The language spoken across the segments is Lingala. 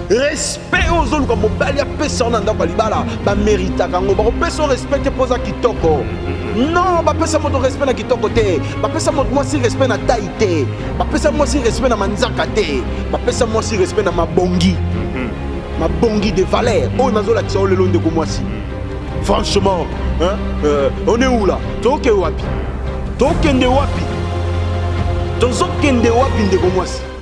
respect oyo ozoluka mobali apesa yo na ndako ya libala bameritaka yango bakopesa yo respect te mpo oza kitoko non bapesa moto respect na kitoko te bapesa moto mwasi respect na tai te bapesa mwasi respect na manzaka te bapesa mwasi respect na mabongi mhm. mabongi de valeur oyo nazolakisa yo lelo ndeko mwasi franchement hein, euh, on est où là toke wapi tokende wapi tozokende wapi ndeko mwasi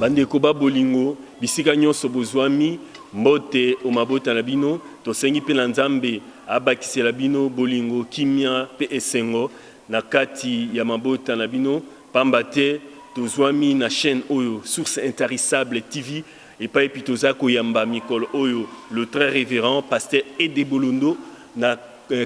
bandeko ba bolingo bisika nyonso bozwami mbote o mabota na bino tosengi mpe na nzambe abakisela bino bolingo kimia mpe esengo na kati ya mabota na bino pamba te tozwami na chaîne oyo source intarissable tv Epayi pi toza koyamba mikolo oyo le très reverend pasteur Ede Bolondo na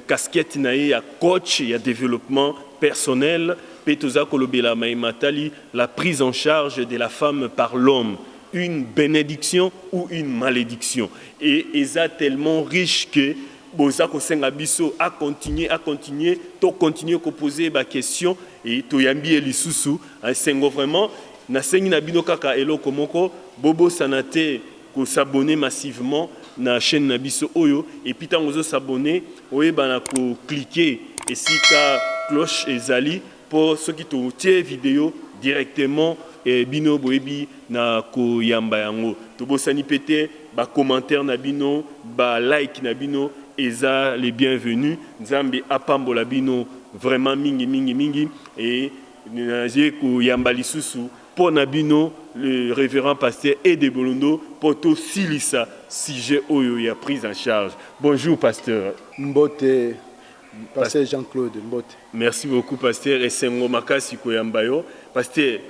casquette na ye ya coach ya developpement personnel pe toza kolobela maye matali la prise en charge de la femme par l'homme, une benediction ou une malediction? Et eza tellement riche que boza kosenga biso a continuer, a continuer, to continuer ko poser ye ba questions et toyambi ye lisusu. Esengo vraiment. Nasengi na bino kaka eloko moko, bobosana te ko s'abonner massivement na chaine na biso oyo, et puis tango ozo s'abonner oyeba na ko cliquer esika cloche ezali po soki totie video directement bino boyebi na koyamba yango. Tobosani pe te ba commentaires na bino, ba likes na bino eza les bienvenus. Nzambe apambola bino vraiment mingi mingi mingi et. Naye koyamba lisusu po na bino le reverend pasteur Ede Bolondo po tosilisa sujet oyo ya prise en charge. Bonjour pasteur. Mbote pasteur Jean Claude mbote. Merci beaucoup pasteur esengo makasi koyamba yo pasteur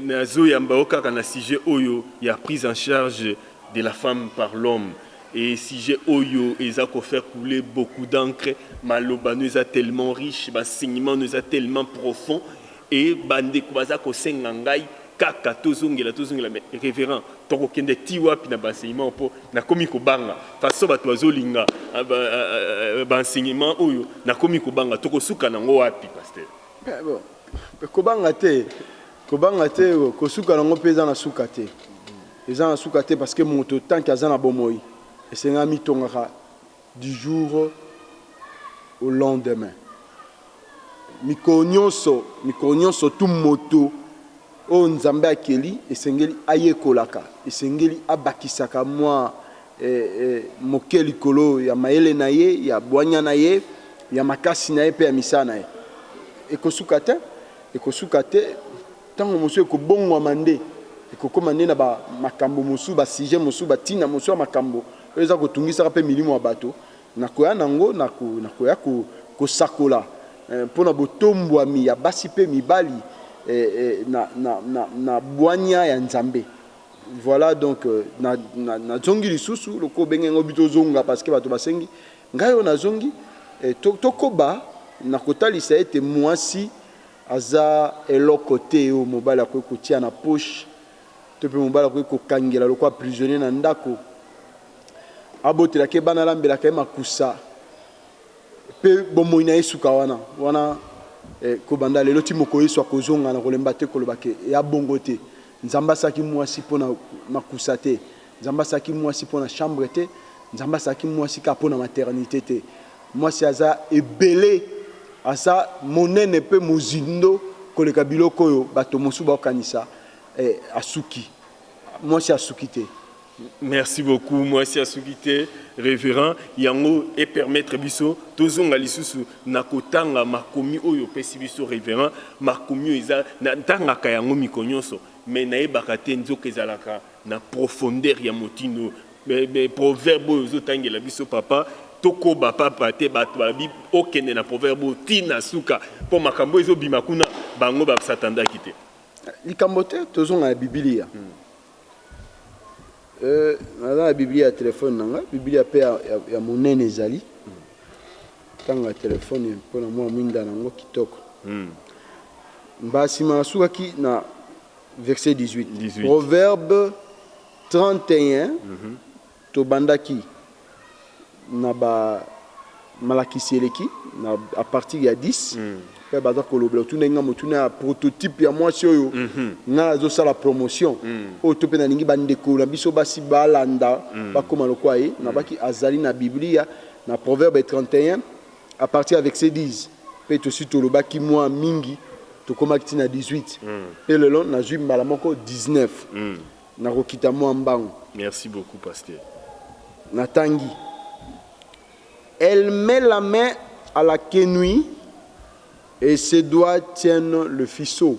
nazoyamba yo kaka na sujet oyo ya prise en charge de la femme par l'homme Hee sujet oyo eza ko faire couler beaucoup d'encre, maloba no eza tellement riche, b'enseignement no eza tellement profond et ba ndeko baza ko senga ngai kaka tozongela tozongela mais reverend toko kende tii wapi na b'enseignement oyo po nakomi ko banga façon batu bazo linga b'enseignement oyo nakomi ko banga toko suka nango wapi pasteur? Kobanga te, kobanga te, kosuka nango pe eza na suka te, Eza na suka te parce que moto tant que aza na bomoyi esengaka amitongaka du jour au lendemain. Mikolo nionso, mikolo nionso tout moto oyo Nzambe akeli esengeli ayekolaka, esengeli abakisaka mua moke likolo ya mayele na ye, ya buania na ye, ya makasi na ye mpe ya misala na ye. Ekosuka te, ekosuka te. Tango mosusu ekobongwama nde ekokoma nde na ba makambo mosusu, ba sujets mosusu, ba tina mosusu ya makambo oyo eza kotungisaka mpe milimo ya bato. Nakoya na yango, nakoya kosakola mpo na botombwami ya basi mpe mibali na bwanya ya Nzambe. Voilà donc nazongi lisusu lokola obengi yango bi tozonga parce que bato basengi ngai oyo nazongi tokoba na kotalisa ete muasi Aza eloko te oyo mobali akoki kotia na poche to pe mobali akoki ko kangela lokola prisonnier na ndako. Abotelaka ye bana, alambelaka ye makusa pe bomoyi na ye esuka wana. Wana eh, ko banda lelo ti mokolo Yesu akozonga, nakolemba te koloba ke eya bongo te. Nzambe asalaki muasi pona makusa te. Nzambe asalaki muasi pona chambre te, Nzambe asalaki muasi kaka pona maternite te. Muasi aza ebele, aza monene pe mozindo koleka biloko oyo bato mosusu baokanisa. Eh asuki? Muasi asuki te. Merci beaucoup muasi asuki te reverend yango e permettre biso tozonga lisusu na kotanga makomi oyo opesi biso reverend makomi oyo eza na tangaka yango mikonionso mais nayebaka te nzoka ezalaka na profondeur ya motindo oyo mais mais proverbe oyo ozo tangela biso papa tokoba papa te bato balobi okende na proverbe oyo ti na suka mpo makambo ezo bima kuna bango ba satandaki te likambo te tozonga na bibilia hmm. euh, naza na bibilia ya telefone na nga bibilia mpe ya, ya, ya monene ezali hmm. tanga telefone mpo na mwa mwinda na yango kitoko hmm. mbasima asukaki na Verset 18. 18. Proverbe 31, tobandaki na ba malakisi eleki na à partir ya 10 pe baza kolobela otunaki nga motuna ya prototype ya mwasi oyo nga nazosala promotion oyo to pe nalingi ba ndeko na biso basi balanda bakoma lokola ye nabaki azali na biblia na proverbe 31 A partir avec ces 10 mpe tosi tolobaki mua mingi, tokomaki ti na 18 mpe lelo nazui mbala moko 19. Nakokita mua mbangu. Merci beaucoup pasteur. Natangi, Elle met la main à la quenouille et ses doigts tiennent le ficeau.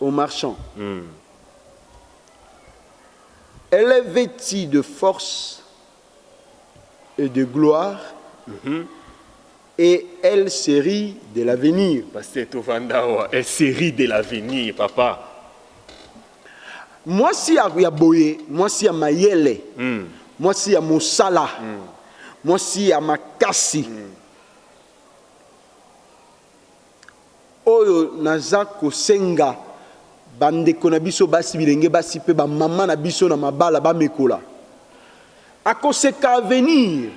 Au marchand Elle est vetie de force et de gloire et elle se rit de l'avenir. Pasteur tovanda awa elle se rit de l'avenir papa. Mwasi ya boye mwasi ya mayele mwasi ya mosala mwasi ya makasi. Oyo naza kosenga ba ndeko na biso basi, bilenge basi mpe ba maman na biso na mabala bamekola, akoseka avenir,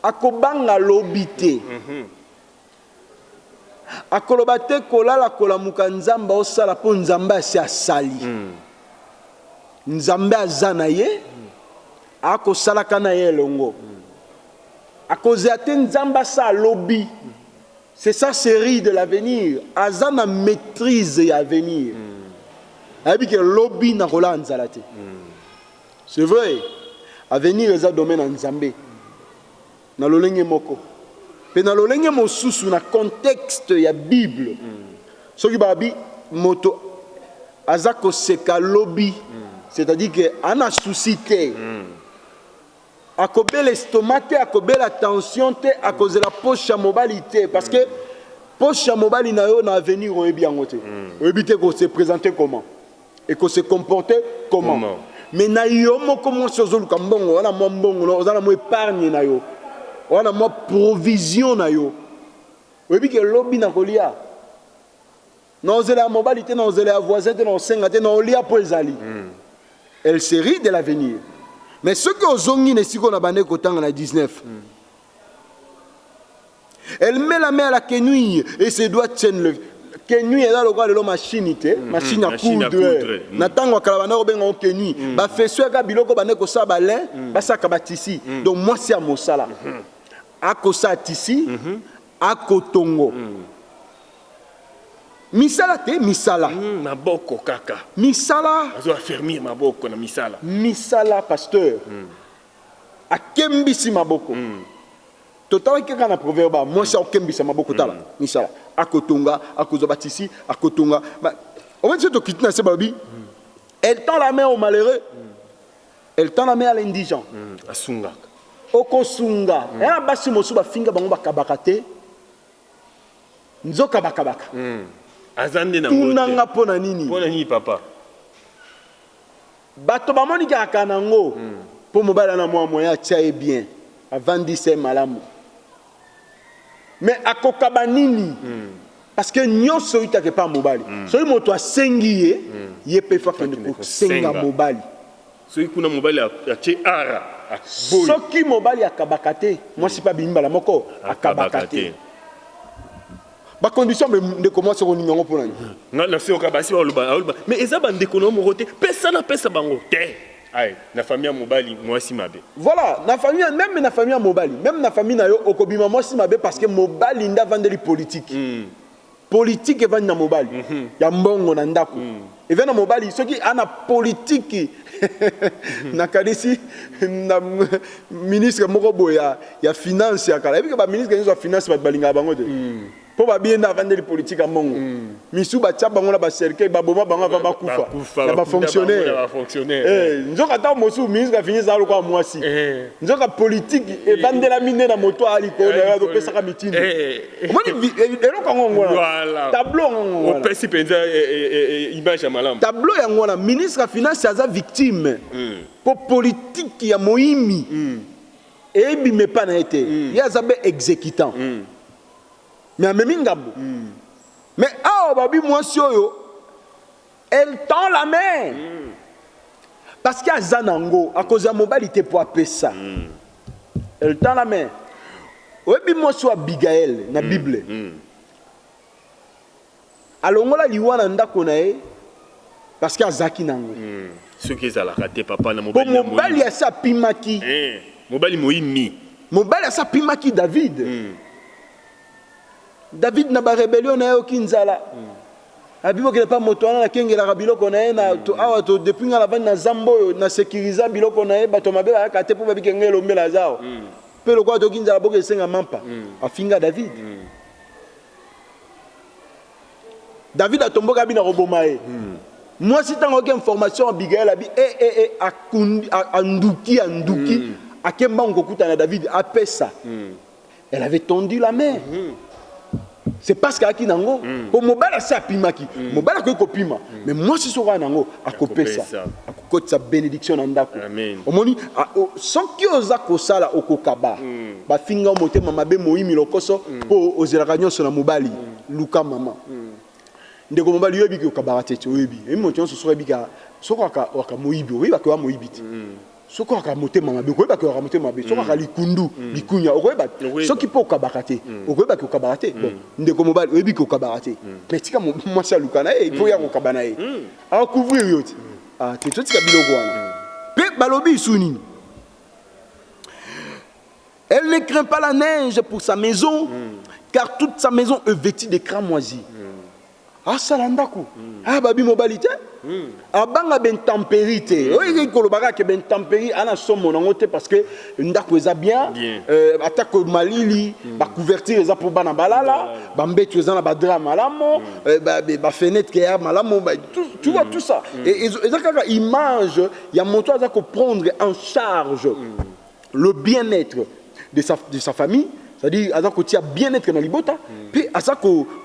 akobanga lobi te, akoloba te kolala kolamuka Nzambe aosala mpo Nzambe asi asali, Nzambe aza na ye, akosalaka na ye elongo, akozela te Nzambe asala lobi C'est ça cherie de l'avenir aza na maitrise ya avenir mm. ayebi ke lobi na kolaa nzala te mm. c'est vrai avenir eza domaine ya nzambe na lolenge moko mpe na lolenge mosusu na contexte ya bible mm. soki babi moto aza koseka lobi mm. c'est-à-dire ke ana souci te mm. Akobela estomac te, akobela tension te, akozela poche ya mobali te parce que poche ya mobali na yo na avenir oyebi yango te. Oyebi te ko se presenter comment et ko se comporter comment. Comment. Mais na yo moko mwasi ozoluka mbongo, oza na mwa mbongo na yo, oza na mwa epargne na yo, oza na mwa provision na yo, oyebi ke lobi nakolia. Na kozela ya mobali te, na kozela ya voisin te, na kosenga te, na kolia mpo ezali. Elle se rit de l'avenir. Mais soki ozongi na esika oyo nabandaki kotanga na 19, elle met la main à la quenouille et ses doigts tiennent le quenouille eza lokola lelo mashini te mashini ya machine à coudre coudre, mm. na ntango ya kala bandaki kobenga yango quenouille bafeso yaka biloko bandaki kosala balin basalaka batisi donc mwasi ya mosala akosala tisi Ako tongo. Misala te, misala. Hum maboko kaka. Misala. Azo affermir maboko na misala. Misala pasteur. Hum. Akembisi maboko. Hum. Totalaki kaka na proverba mwasi akokembisa maboko tala misala akotonga akozwa batisi akotonga omoni soki tokiti na se balobi elle tend la main au malheureux Elle tend la main à l'indigent. Hum, asungaka. Okosunga. Mm. Yana basi mosusu bafinga bango bakabaka te. Nzoka bakabaka. Mm. Aza nde na ngote. Tunanga mpo na nini? Mpo na nini papa? Bato bamoni kaka nango. Mm. Mpo mobali ana mwa moyen atia ye bien. Avandisa ye malamu. Mais akokaba nini parce que nionso eutaka epa mobali soki moto asengi ye ye pe il faut akende kosenga mobali soki kuna mobali atie ara aboyi soki mobali akabaka te mwasi pe abimi mbala moko akabaka te ba condition mais ndeko mwasi okolinga yango pona nini nga nase yoka basi baloba mais eza ba ndeko na yo moko te pesa na pesa bango te. Aye na famille ya mobali muasi mabe. Voilà na famille ya meme na famille ya mobali meme na famille na yo oko bima muasi mabe parce que mobali nde avandeli politique politique evandi na mobali ya mbongo na ndaku evandi na mobali soki a na politique na kanisi na ministre moko boye ya ya finance ya kala ayebi que ba ministre nioso ya finance batu balingaka bango te. Po ba biye nde avandeli politique ya mongo misusu ba tia bango na ba cercueil ba boma bango avant ba kufa ya ba fonctionnaire eh nzoka tango mosusu ministre afingi ezalaka lokola muasi nzoka politique evandelami nde na moto ya likolo naye azo pesaka mitindo omoni eloko yango yango wana tableau yango yango wana opesi penza image ya malamu tableau yango wana ministre ya finance aza victime po politique ya moimi ebima epa na ye te ye aza be executant mais amemi ngambo mm. mais awa babi mwasi oyo elle tend la main mm. parce que aza nango akozwa mobali te mpo apesa mm. elle tend la main oyebi mwasi wa abigaele na mm. bible mm. Alongola liwa na ndako na ye parce que azalaki na yango. Hmm. Soki ezalaka te papa na mobali. Bon mobali asi apimaki. Eh, mobali moyimi. Mobali asi apimaki David. Hmm. David na ba rebellion na ye oki nzala. Hmm. abibokela mpa moto wana nakengelaka biloko na ye awa to depuis ngai navandi na zamba oyo na sécurise biloko na ye bato mabe bayaka te mpo babike ngai elombela aza awa mpe lokola toki nzala boke esenga mampa afinga david David atomboka abi na koboma ye. Hmm. Mwasi ntango ayoki information ya Abigail abi e eh, e eh, e eh, akundi anduki anduki hmm. ake mbangu kokutana David apesa. Hmm. Elle avait tendu la main. Hmm. C'est parce qu'ayaki nango hmm. po mobali asi apimaki. Hmm. Mobali akoki kopima. Hmm. Mais mwasi soki aya nango akopesa. kotisa benediction na ndako omoni soki oza kosala okokaba bafinga motema mabe moyimi lokoso mpo ozelaka nyonso na mobali luka mama ndeko mobali yo ebiki okabaka te oyebi eyi moto nyonso soki ebika soki waka moyibi oyebaka oya moyibi te soki aka motema mabe okoyeba ke aka motema mabe soki aka likundu mm. likunya okoyeba soki mpo okabaka te mm. okoyeba ke okabaka te mm. bon ndeko mobali oyebi ke okabaka te mais tika mwasi aluka na ye mpo ya kokaba na ye Ako couvrir yo ti. Ah, te totika biloko wana. Pe balobi isu nini? Elle ne craint pas la neige pour sa maison mm. car toute sa maison est vêtue de cramoisi. Mm. Asala ndako. Mm. Ah babi mobali te. Mm. Abanga ben temperi te. Mm. Oyo koloba kaka ben temperi ana somo nango te parce que ndako eza bien, bien. Euh, atako malili mm. bacouverture eza mpo bana balala bambetu eza na badra malamu mm. bafenêtre euh, ba, ya malamu ba, tu, tu mm. vois tout ça mm. e, eza kaka image ya moto aza koprendre en charge mm. le bien-être de sa, de sa famille c'est-à-dire aza kotia bien-être na libota mpe mm. aza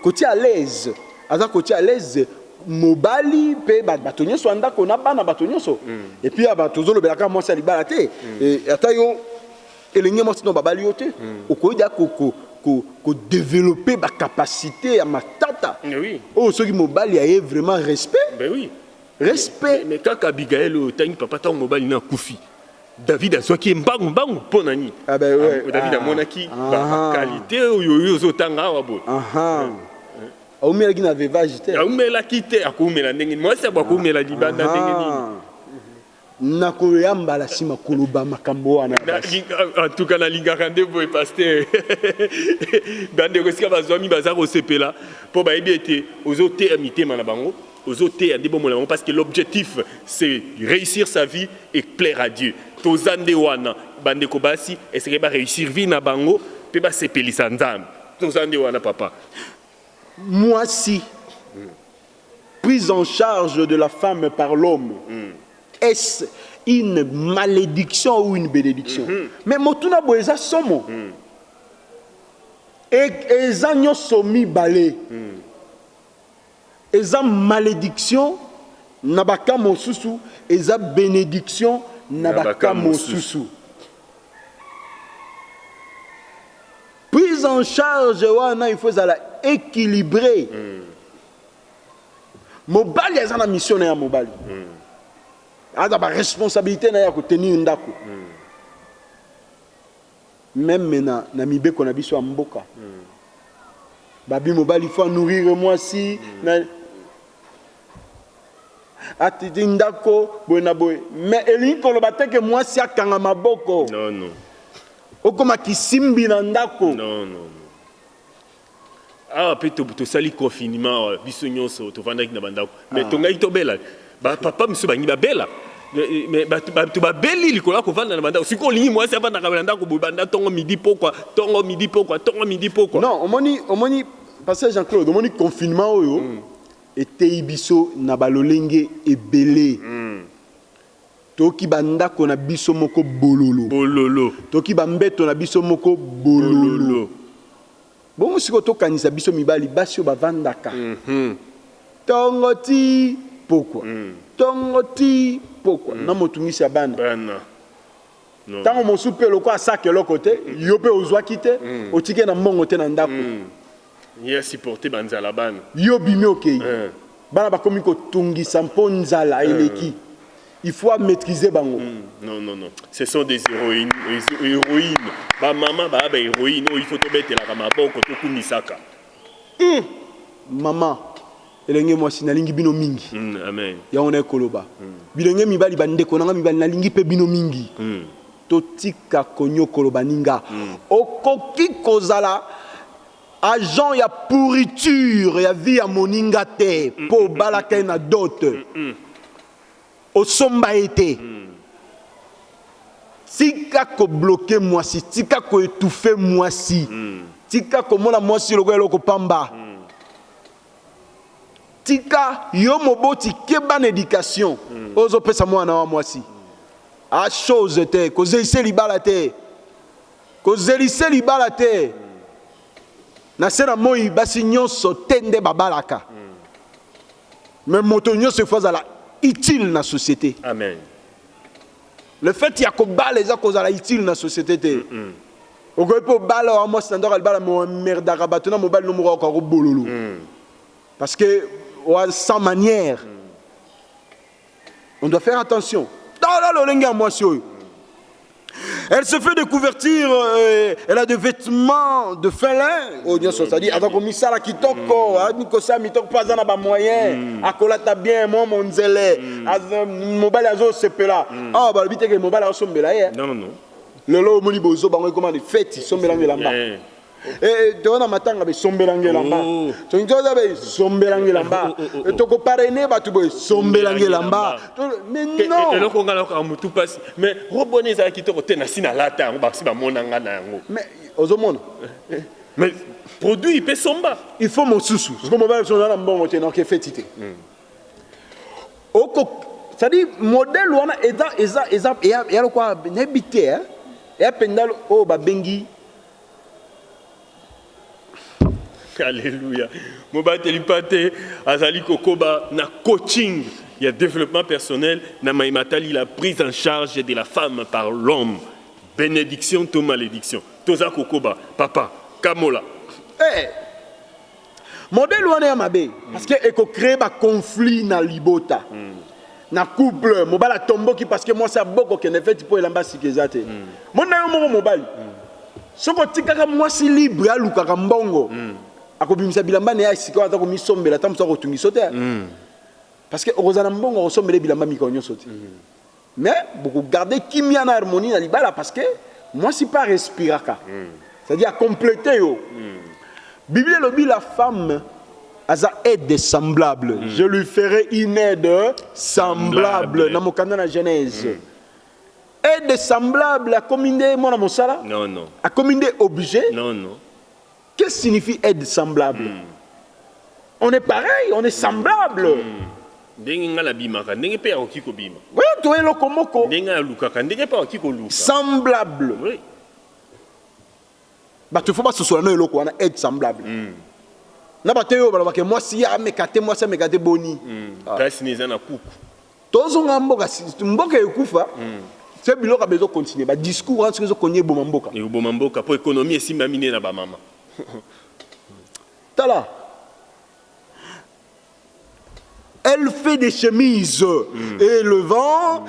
kotia à l'aise aza kotia à l'aise mobali mpe bato nyonso ya ndako na bana bato nyonso epuis ya bato ozolobela kaka mwasi ya libala te eh, ata yo elenge mwasi no babali yo te okoki deja kodevelope bacapacité ya matata oyo soki mobali aye vraiment respect ben respect mais kaka abigaele oyo otangi papa ntango mobali na akufi david azwaki ye mbangu mbangu mpo na nini ah, david ah. amonaki bakalite ah. oyo yo ozotanga awa boye Aumelaki na veuvage te. Aumelaki te, akoumela ndenge nini? Mwasi ya boye akoumela libanda ndenge nini? nakoya mbala nsima koloba makambo wana antuka nalingaka nde boye paster bandeko esika bazwami baza kosepela mpo bayebi ete ozoteya mitema na bango ozoteya nde bomona bango parce que l'objectif c'est réussir sa vie et plaire à dieu toza nde wana bandeko basi eseke baréussir vie na bango mpe basepelisa nzambe toza nde wana papa Muasi, prise en charge de la femme par l'homme, est-ce une malédiction ou une bénédiction? Mais motuna boye eza somo. E- Eza nyonso mibale. Eza malediction na ba cas mosusu eza benediction na ba cas mosusu. Prise en charge wana il faut ezala equilibre. Mobali aza na mission na ya mobali. Aza ba responsabilite na ya ko tenir ndako. Meme na na mibeko na biso ya mboka babi mobali faut nourrir mwasi na atiti ndako boye na boye mais elingi koloba te ke mwasi akanga maboko non non okoma kisimbi na ndako non non Awa pe tosali confinement awa biso nyonso tovandaki na bandako me ah. tongaki tobela bapapa mosusu balingi babela me bato babeli likolo ya kovanda na bandako sikoyo olingi mwasi avandaka na ndako boye banda ntongo midi pokwa ntongo midi pokwa ntongo midi pokwa non omoni omoni pasteur jean claude omoni confinement oyo mm. eteyi biso na balolenge ebele mm. Toki ba ndako na biso moko bololo. Bololo. Toki ba mbeto na biso moko bololo. Bololo. Bongo sikoyo to kanisa biso mibali basi oyo ba vandaka tongo ti pokwa tongo ti pokwa na motungisi ya bana. Bana. Non. Tango mosusu pe lokola asaka eloko te yo pe ozuaki te otiki ye na mbongo te na ndako. Ye a supporter ba nzala bana. Yo obimi okeyi bana bakomi kotungisa mpo nzala eleki il faut a maitriser bango. Non non non ce sont des heroine ba maman ba ba heroine oyo il faut tobetelaka maboko tokumisaka hum. Maman elenge mwasi nalingi bino mingi yango naye koloba bilenge mibali ba ndeko na nga mibali nalingi pe bino mingi. Totika koniokolo baninga. Okoki kozala agent ya pourriture ya vie ya moninga te mpo obalaka ye na dot, osomba ye te. Tika ko bloquer mwasi, tika ko etouffer mwasi, tika komona mwasi lokola eloko pamba. Tika yo moboti keba na education ozo pesa muana wa mwasi a chose te kozelise libala te kozelise libala te na se na moyi basi nionso te nde babalaka mais moto nionso il faut azala utile na societe. Amen. Le fait ya kobala eza kozala utile na société te. Mm -mm. okoki mpe obala wa mwasi na ndako alibala merdaka bato na mobali no moko akoka kobololo mm. parce que wa sans manière mm. on doit faire attention tala lolenge ya mwasi oyo elle se fait des couvertures euh, elle a des vêtements de fin lin oyo nyonso ozali aza komisala kitoko mm. ayebi kosala mitoko mpo aza na bamoyen mm. akolata bien mwa monzele mm. mobali azosepela awa balobi teke mobali aosombela ye lelo omoni bozo bango ekoma ni feti sombela ngelamba eh. Eh, eh, toza na matanga besombelanga elamba oh. tolingi toza besombelanga elamba oh, oh, tokoparene bato boye sombelanga elamba eloko ngai nayokaa motu mpasi mais robo wana ezala kitoko te nasi nalata yango basi bamona ngai na yango mais ozomona mais produit pe somba il faut mosusu siko mobali biso oza na mbongo te noke feti te hmm. oko cestadire modèle wana eza eza eza eya lokwa nayebi te eya mpenza oyo oh, babengi alleluya mobateli mpate azali kokoba na coaching ya développement personnel na mai matali la prise en charge de la femme par l'homme Benediction to malediction toza kokoba papa kamola. Hey! Modèle wana ya mabe mm. parce que eko créer ba conflit na libota. Mm. Na couple mobali atomboki parce que mwasi aboko kende feti mpo elamba sika eza te. Mm. Mona yo moko mobali. Mm. Soko otikaka mwasi libre alukaka mbongo. Mm. Akobimisa bilamba na ye sika ata komisombela ata mosu akotungisa te. Mm. Parce que okozala mbongo okosombela bilamba mikolo nyonso te. Mm. Mais boko garder kimia na harmonie na libala parce que mwasi pe a respiraka c'est à dire a completer yo Biblia elobi la femme aza aide semblable je lui ferai une aide semblable na mokanda na Genèse aide semblable akomi nde mwana mosala? akomi nde objet? Qu'est-ce que signifie aide semblable mm. On est pareil, on est semblable. Mm. ndenge ngai nabimaka ndenge mpe akoki kobima to eloko moko ndenge alukaka ndenge mpe akoki koluka semblable oui. bato ifo basosola na eloko wana aide semblable mm. na bato oyo balobaka mwasi ye ameka te mwasi ameka te boni mm. ah. place ne eza na kuku Tozonga mboka mboka ekufa. Se biloko bezo continuer ba discours wana soki ezo konya eboma mboka. Eboma mboka po economie esimbami nde na ba mama. Tala elle fait des chemises mm. et le vent mm.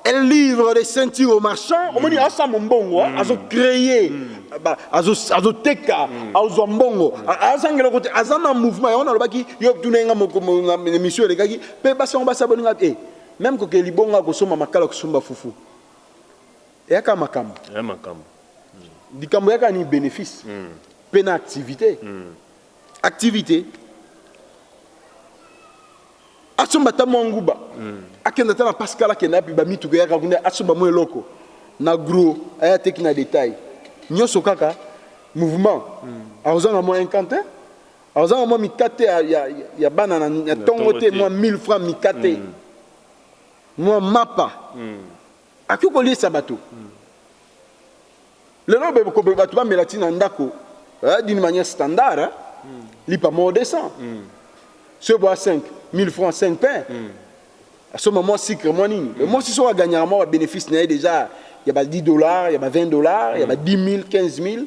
elle livre des ceintures aux marchands mm. omoni asa mombongo mm. azo créer mm. azoteka mm. azwa mbongo mm. azangela kote aza na mouvement yango nalobaki yo tuna nga émission elekaki Pe basi yango basala boninga eh meme koke libongo ya kosomba makala kosomba fufu eyaka makambo ya makambo likambo yaka ni benefice mm. pe na activité mm. activité asomba ata mwa nguba mm. akenda ata na pascal akenda yapi bamituka eyaka kuna asomba mwa eloko na gros aya teki na detail nyonso kaka mouvement mm. akozanga mwa incantin Aza na mwa mikate ya, ya, ya bana na, na tongo te, mwa 1000 francs mikate mm. mwa mapa mm. akoki koliesa bato mm. lelo bato bamela ti na ndako eh, d'une manière standard eh? mm. lipa moko 200 mm. soki boa 5 1000 francs 5 pain mm. asomba mwa sucre mwa nini mm. mwasi soki aganyaka mwa babénéfice na ye déjà ya ba 10 dollars ya ba 20 dollars mm. ya ba 10 000 15 000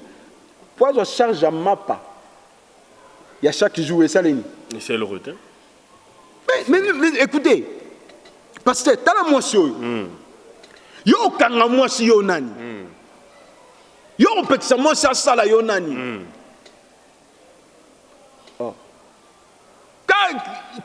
Po azwa charge ya mapa ya chaque jour esalemi. Esi eloko te. Mais, mais, mais ecoutez, pasteur, tala mwasi oyo. Mm. Yo okanga mwasi yo nani? Mm. Yo opekisa mwasi asala yo nani? Mm. Ta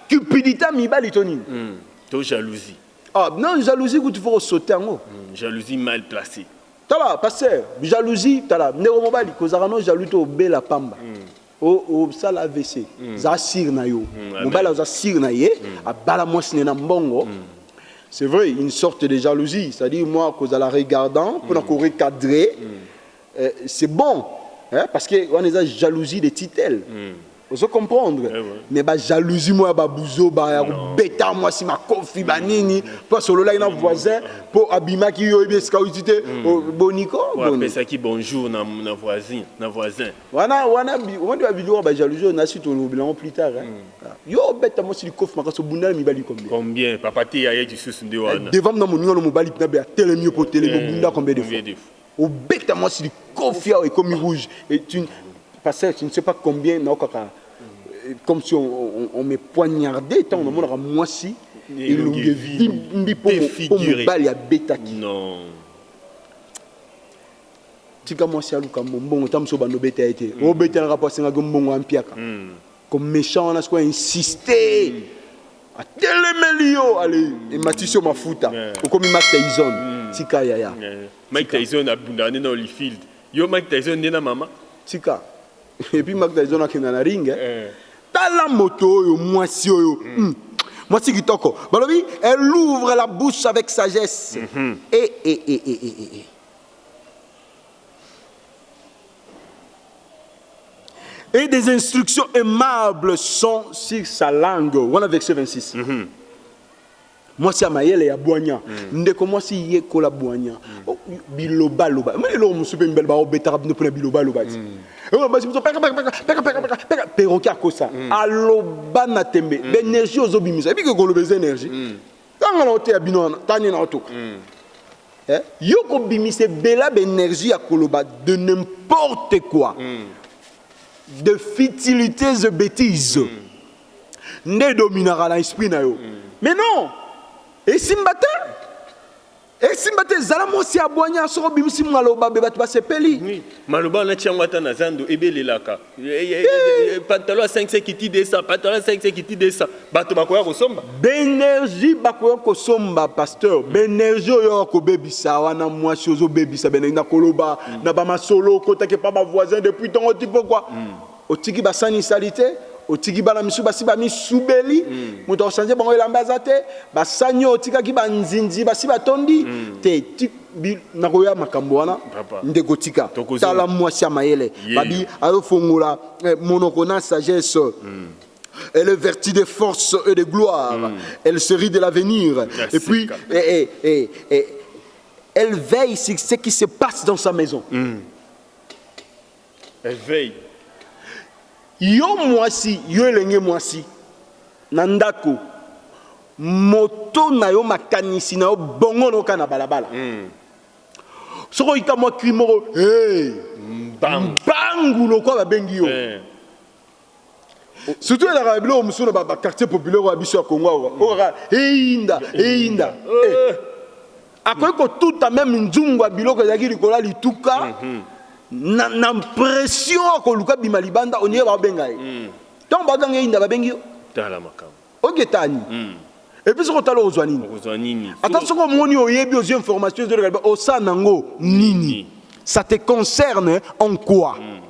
cupidite ya mibali to nini? Hum, to jalousie. Ah, non, jalousie kutu faut sauter yango. Hum, jalousie mal placée. Tala, pasteur, jalousie, tala, ndeko mobali, kozaka no jaloux to obela pamba. Hum. osala avc hmm. za sire na yo hmm, mobali aza sire na ye hmm. abala mwasi ne na mbongo c'est vrai une sorte de jalousie c'est-à-dire moi kozala regardant mpona korecadre Eh, c'est bon eh, parce que wana eza jalousie de titel mm. ozo comprendre eh, ouais. mais bajalousie moko ya babuzoba ya kobeta mwasi makofi banini mm. mpo asololaki na mm. voisin mpo abimaki yo oyebi esika outi te mm. oh, boniko apesaki bonjour na, na voisin na voisin wana wana omoni babilio ya bajalousie na suite olobela yango plus tard eh? mm. Ah. yo obeta mwasi likofi makasi obundala mibali combien combien papa te ya ye lisusu nde eh, wana devant na moninga no mobali mpina be atelemi yo mpo otelemi eh, obunda combien de fois Obeta mwasi likofi awa ekomi rouge et tu pasteur tu ne sais pas combien na okaka euh, comme si on, on, on me poignardait tant on monaka mwasi elongi evimbi po mobali abetaki non tika mwasi aluka mbongo ta mosusu obanda obeta ye te obetelaka po asengaki mbongo ampiaka mm. Comme méchant wana sikoyo insiste atelemeli yo ale ematisi yo mafuta okomi Mike Tyson tika yaya Mike Tyson abundaka nde na Holyfield yo Mike Tyson nde na mama tika et puis Mike Tyson akenda na ring eh. tala moto oyo mwasi oyo mm. mwasi kitoko balobi elle ouvre la bouche avec sagesse mm -hmm. et, et, et, et, et, et. Et des instructions aimables sont sur sa langue. Voilà verset 26. Mm -hmm. mwasi ya mayele ya bwanya mm. ndeko mwasi yekola bwanya mm. Oh, bilobaloba ma eloko mosusu mpe mibali baobetaka bino mpona bilobaloba ti mm. basi mosusu pekapekapekapekapeka peroki akosa mm. aloba na tembe mm. baenergie ozobimisa ebiki koloba eza energie mm. Tanga na oteya bino wana, tani na otoka. Mm. Eh? Yo kobimise bela b'energie ya koloba de n'importe quoi. Mm. De futilités et bêtises. Mm. Nde dominaka na esprit na yo. Mm. Mais non! Esimba te. esimba te zala mwasi ya bwanya soki obimisi maloba be bato basepeli Oui, maloba wana tia yango ata na zando ebelelaka Eh, eh, eh, eh, pantalon ya 500 kiti 200 pantalon ya 500 kiti 200 bato bakoya kosomba baenergie bakoya kosomba pasteur baenergie oyo oyo kobebisa wana mwasi ozobebisa baenergie na koloba na bamasolo okotaki epa bavoisin depuis ntongo ti pokwa otiki basani salite otiki bana misusu basi bamisubeli mm. moto akosanze bango elamba aza te basani oyo otikaki banzinzi basi batondi mm. te nakoya makambo wana ndeko tika tala mwasi ya mayele babi azofongola eh, monoko na sagesse mm. Elle est vertie de force et de gloire. Mm. Elle se rit de l'avenir. Et puis, et, eh, et, eh, et, eh, et, elle veille ce qui se passe dans sa maison. Mm. Elle veille. Yo mwasi, yo elenge mwasi na ndako moto na yo makanisi na yo bongo na oka na balabala mm. soki oyika mwa kri moko hey, mbangu lokola babengi yo hey. Eh. surtout elaka biloko mosusu na baquartier populaire ya biso ya congo awa oyoka eyinda eyinda eh. akoki kotuta meme nzungu ya biloko ezalaki likolo ya lituka mhm. na, na pression akoluka bima libanda oniye baobenga ye mhm. ntango bazanga eyinda babengi yo tala makambo ogetani mhm. epuis soki otala okozwa nini ata soki omoni oyebi ozwi information ezoleka osala nango nini ça te concerne en quoi mm.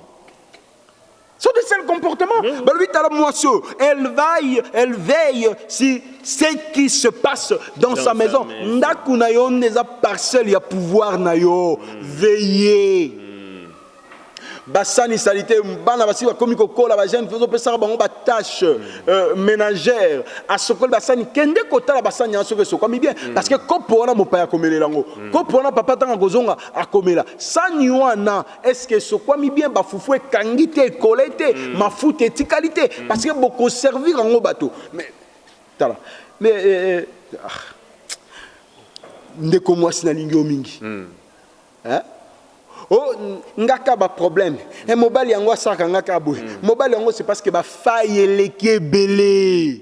C'est le seul comportement. Balobi tala mwasi oyo, elle veille, elle veille si ce qui se passe dans, dans sa maison. Ndako na yo nde eza parcelle ya pouvoir na yo. Mm. Veiller. Mm. basani salite bana basi bakomi kokola bajeune ozopesaka bango batâche mm. euh, ménagère asokoli basani kende kotala basani yango soki esokwami bien mm. parce que kopo wana mopaya akomelela yango mm. kopo wana papa ntango akozonga akomela sani wana Est-ce que esokwami bien ba fufu ekangi te ekole te mm. mafuta etikali te mm. parce que boko servir yango bato mais tala mais euh, euh, euh ah. ndeko mwasi nalingi yo mingi mm. hein? o oh, nga ka baproblème e eh, mobali yango asalaka nga ka boye mm. mobali yango c'est parce que bafai eleki ebele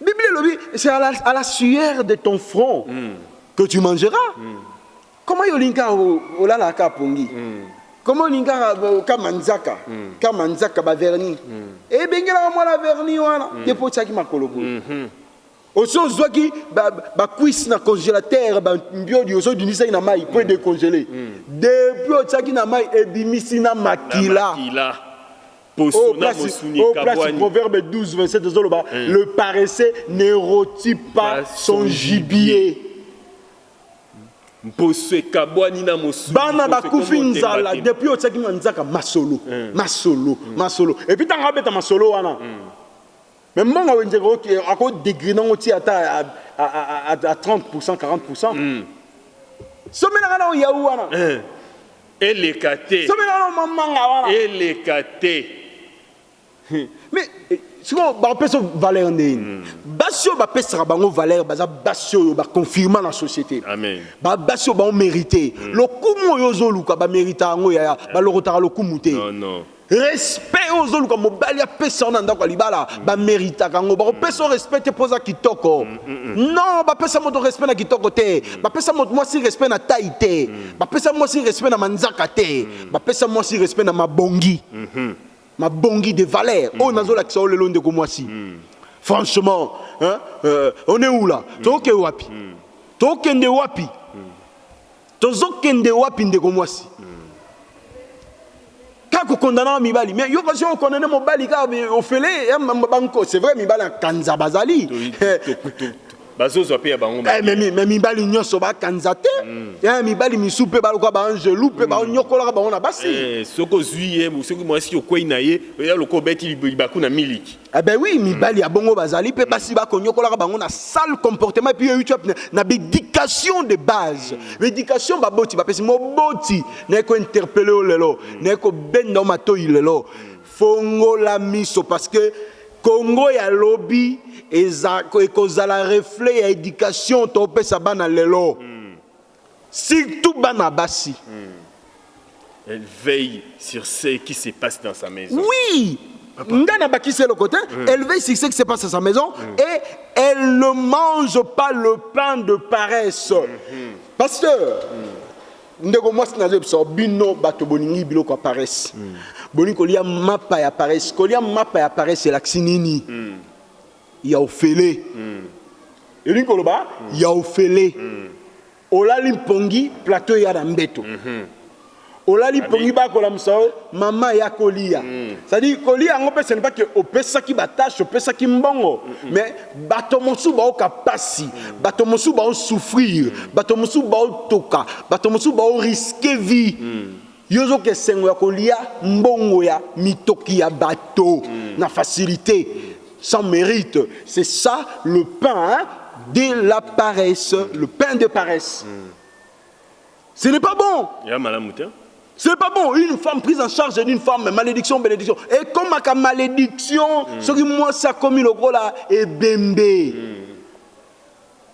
Biblia elobi c'est à la, à la sueur de ton front mm. que tu mangeras mm. comment yo olingi kaka olalaka pongi mm. comment olingi kaka euh, ka manzaka mm. ka manzaka baverni mm. ebengelaka mwana verni wana mm. depo otyaki makolo boye mm -hmm. osi ozwaki bacuise na congélateur bambiodi osi obimisaki na mai mpo edecongele mm. mm. depuis otyaki na mai ebimisi na makila, na makila. Oyo place, oyo place proverbe 12, 27 ezoloba mm. le paresseux ne rôtit pas son gibier. mposo ekabwani na mosuni bana bakufi nzala depuis otiaki na nzaka masolo mm. masolo mm. masolo epuis ntango abeta masolo wana mm. Mais mbongo wenze ko ako degriner ngo ti ata à, à, à, à 30%, 40%. Mm. Somela nga na yaou wana. Eh. Eleka te. Somela nga na manga wana. Eleka te. Mais eh, sikoyo bapesa valeur nde nini hmm. basi oyo bapesaka bango valeur baza basi oyo baconfirma na société basi oyo baomérite hmm. lokumu oyo ozoluka baméritaka yango yaya balokotaka lokumu te respect oyo ozoluka mobali apesa yo na ndako ya libala mm. bameritaka yango bakopesa yo mm. respect te mpo oza kitoko mm, non bapesa moto respect na kitoko te bapesa moto mwasi respect na tai te bapesa mwasi respect na manzaka te bapesa mwasi respect na mabongi mm-hmm. mabongi de valeur oyo nazolakisa yo lelo ndeko mwasi franchement hein, euh, on est où là tokokende wapi tokokende wapi Tozo kende wapi ndeko mwasi? Kaka kokondana mibali mais yo kasi okondane mobali kaka ofele eh, banko c'est vrai mibali akanza bazali bazozwa mpe ya bango eh, me mibali nyonso bakanza te mm. eh, mibali misu mpe baloka baangelu mpe mm. banyokolaka bango na basi eh, soki ozwi ye soki mwasi okwei na ye oya lokola obeti libaku na miliki Eh ben oui, mibali ya bongo bazali pe basi ba konyokolaka bango na sale comportement et puis yo tu na éducation de base. Éducation ba boti ba pesi moboti na ko interpeller lelo, na ko benda o matoyi lelo. Fongola miso parce que Congo ya lobi eza ekozala reflet ya éducation to pesa bana lelo. Surtout bana basi. Elle veille sur ce qui se passe dans sa maison. Oui Nga na bakisi eloko te, mm. elle veille sur ce qui se passe dans sa maison mm. et elle ne mange pas le pain de paresse. Mm -hmm. Pasteur, mm. ndeko mwasi nazo biso bino bato bolingi biloko ya paresse. Mm. Bolingi kolia mapa ya paresse. Kolia mapa ya paresse elakisi nini? Mm. Ya ofele. Elingi koloba ya ofele. Olali mpongi, plateau eya na mbeto. Olali mpongi bakolamusa yo, mama aya koliya. C'est à dire koliya yango mpe ce n'est pas que opesaki ba taches, opesaki mbongo mais bato mosusu bayoka mpasi, bato mosusu bao souffrir, bato mosusu baotoka, bato mosusu bao risquer vie. Yo ozoka esengo ya kolia mbongo ya mitoki ya bato mm. na facilite sans mérite c'est ça le pain de la paresse mm. le pain de paresse mm. ce n'est pas bon ya malamu te c'est pas bon une femme prise en charge d'une femme malédiction bénédiction et comme aka malédiction mm. soki mwasi akomi lokola ebembe mm.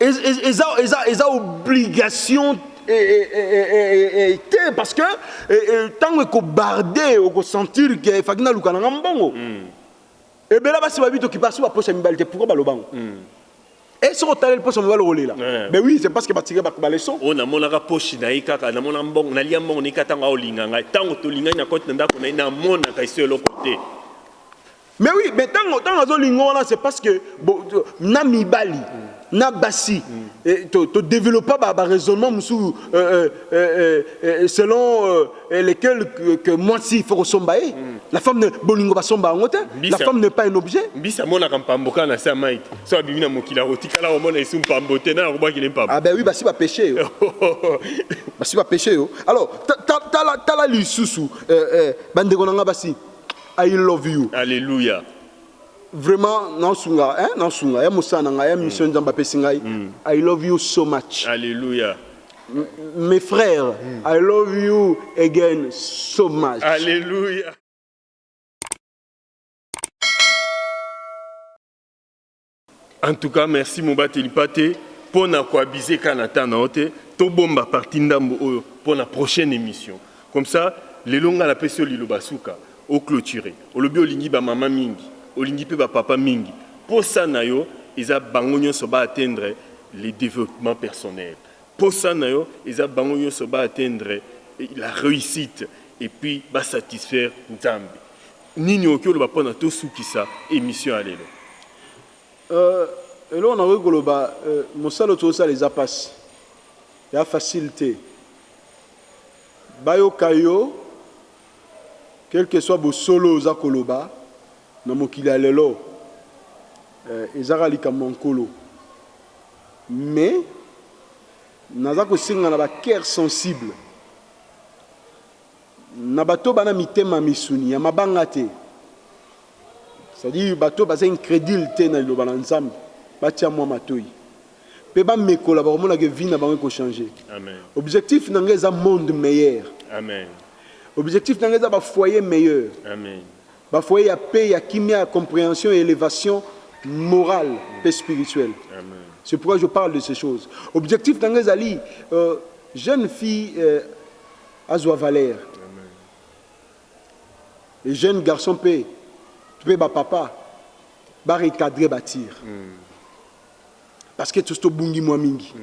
eza eza eza obligation te parce que ntango ekobarde okosentir ke efaki naluka nanga mbongo hmm. ebela basi babi tokipasi baposa mibali te pourkoi baloba yango hmm. e soki otaleli posa mibali okolela eh. mais oui c'est parce que batike baleson oyo oh, namonaka poshi na ye kaka namona mbongo nalia mbongo naika ntango aolinga ngai ntango tolingani na koti na ndako na ye namonaka eso eloko te Mais oui, mais tango tango azo lingo wana c'est parce que bo, na mibali na basi eh, to, to développa ba, ba raisonnement mususu euh, euh, euh, selon euh, lequel que, que mwasi faut kosomba ye mm. la femme ne, bolingo basomba yango te la femme n'est pas un objet mbisi amonaka mpambo kaka na se ya mai te so abimi na mokili akotikala komona esu mpambo te naye akobwaki ne mpambo ah ben oui basi bapeshe yo basi bapeshe yo alors tala lisusu bandeko na ngai basi I love you. Alleluia. Vraiment na sunga hein na sunga ya mosala na ngai ya mission mm. Nzambe apesi ngai. Mm. I love you so much. Alleluia. M mes frères, mm. I love you again so much. Alleluia. En tout cas merci mobateli pate pona ko abuser ka na temps na yo te tobomba partie ndambu oyo pona prochaine emission comme ça lelo nga na pesi yo liloba suka o cloturer olobi olingi ba mama mingi olingi pe ba papa mingi posa na yo eza bango nionso ba atteindre le developpement personnel posa na yo eza bango nionso ba atteindre la reussite et puis ba satisfaire nzambe Nini okoki oloba pona to sukisa emission ya lelo? Euh eloko nakoki koloba euh mosala oyo tozosala eza pasi eza facile te bayoka yo quelque soit bosolo oyo oza koloba na mokili ya lelo euh eza kaka likambo ya nkolo mais naza kosenga na ba coeur sensible Na bato bana mitema misuni ya mabanga te c'est-à-dire bato baza incredule te na liloba na Nzambe batia mwa matoyi pe ba mekola bakomona que vie na bango eko changer. Amen. Objectif na nga eza monde meilleur. Amen. Objectif na nga eza ba foyer meilleur. Amen. Ba foyer ya paix, ya kimia, ya comprehension, ya elevation morale pe spirituelle. Amen. C'est pourquoi je parle de ces choses. Objectif na nga ezali euh, jeune fille euh, Azwa valeur. Les jeunes garçons pe pe ba papa ba recadrer ba tir. Parce que tous to bungi mwa mingi.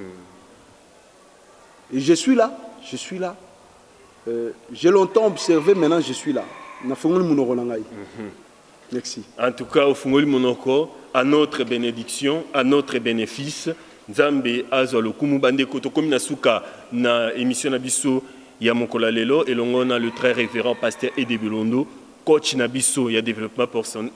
Et je suis là, je suis là. Euh, j'ai longtemps observé, maintenant je suis là. Na fongoli munoko na ngai. Merci. En tout cas ofungoli monoko à notre benediction à notre benefice nzambe azwa lokumu bandeko tokomi na suka na emission na biso ya mokolo ya lelo elongo na le très révérend pasteur Ede Bilondo coach na biso ya développement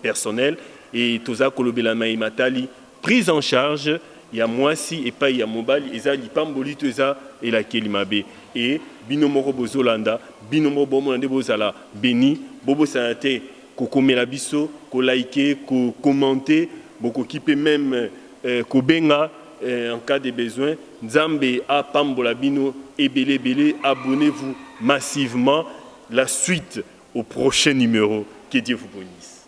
personnel et toza kolobela mai matali Prise en charge ya muasi epayi ya mobali eza lipamboli to eza elakeli mabe et bino moko bozo landa bino moko bomona nde bozala beni bobosana te kokomela biso ko like ko commente bokoki pe meme kobenga en cas de besoin nzambe apambola bino ebele ebele abonnez vous massivement la suite au prochain numero que Dieu vous benisse.